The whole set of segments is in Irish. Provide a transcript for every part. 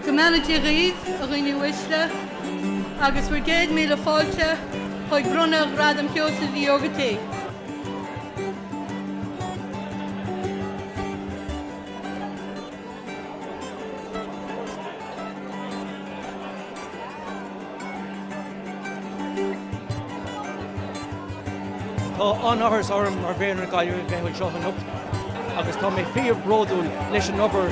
Go mbeannaití dhaoibh, a dhaoine uaisle, agus bhur gcéad míle fáilte chuig bronnadh Ghradam Sheosaimh Uí Ógartaigh. Tá an-áthas orm mar mhéara na Gaillimhe a bheith anseo anocht agus tá mé fíor bródúil leis an obair.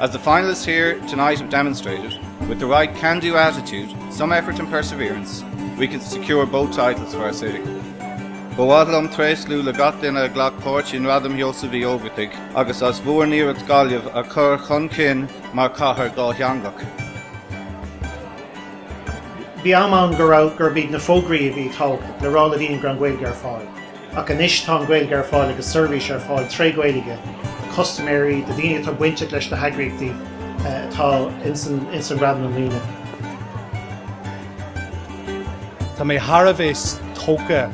As the finalists here tonight have demonstrated, with the right can-do attitude, some effort and perseverance, we can secure both titles for our city. Ba bhhad liom tréaslú le gach duine a ghlac páirt i ngradam Sheosaimh Uí Ógartaigh agus as bhur n-iarracht Gaillimh a chur chun cinn mar chathair dhátheangach. Bhí am ann gurb iad na fógraí a bhí tógtha le rá le daoine go raibh an Ghaeilge ar fáil. Ach anois tá an Ghaeilge ar fáil agus seirbhís ar fáil tré Ghaeilge do custaiméirí, do daoine atá bainteach leis na heagraíochtaí atá ins an nGradam i mbliana. Tá mé thar a bheith tógtha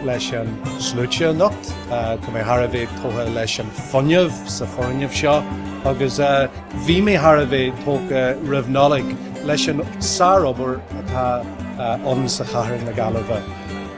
leis an slua anocht. Tá mé thar a bheith tógtha leis an fuinneamh sa foirgneamh seo agus bhí mé thar a bheith tógtha roimh Nollaig leis an sárobair atá ann i gcathair na Gaillimhe.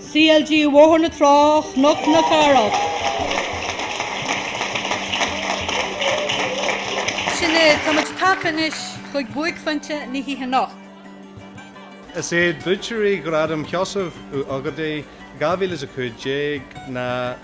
CLG Bhóthar na Trá, Chnoc na Cathrach. Sin é, tá muid tagtha anois chuig buaicphointe na hoíche anocht. Is iad buaiteoirí Ghradam Sheosaimh Uí Ógartaigh 2015 ná.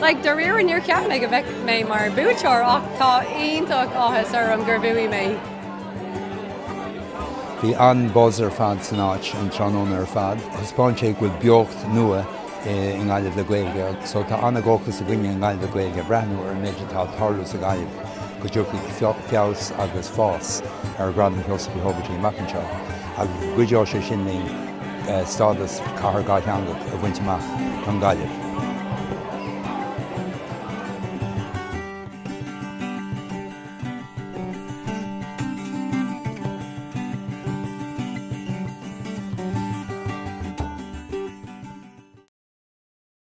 Like, dáiríre níor cheap mé go mbeadh mé mar buaiteoir ach tá iontach áthas orm gur bhuaigh mé. Bhí an-buzz ar fad san áit an tráthnóna ar fad. Thaispeáin sé go bhfuil beocht nua i nGaillimh le Gaeilge. So tá an-dhóchas againne i nGaillimh le Gaeilge ag breathnú ar an méid atá ag tarlú sa Ghaillimh go dtiocfaidh feabhas agus fás ar Ghradam Sheosaimh Uí Ógartaigh amach anseo. Agus go gcuideoidh sé sin linn stádas Cathair Dhátheangach a bhaint amach don Ghaillimh.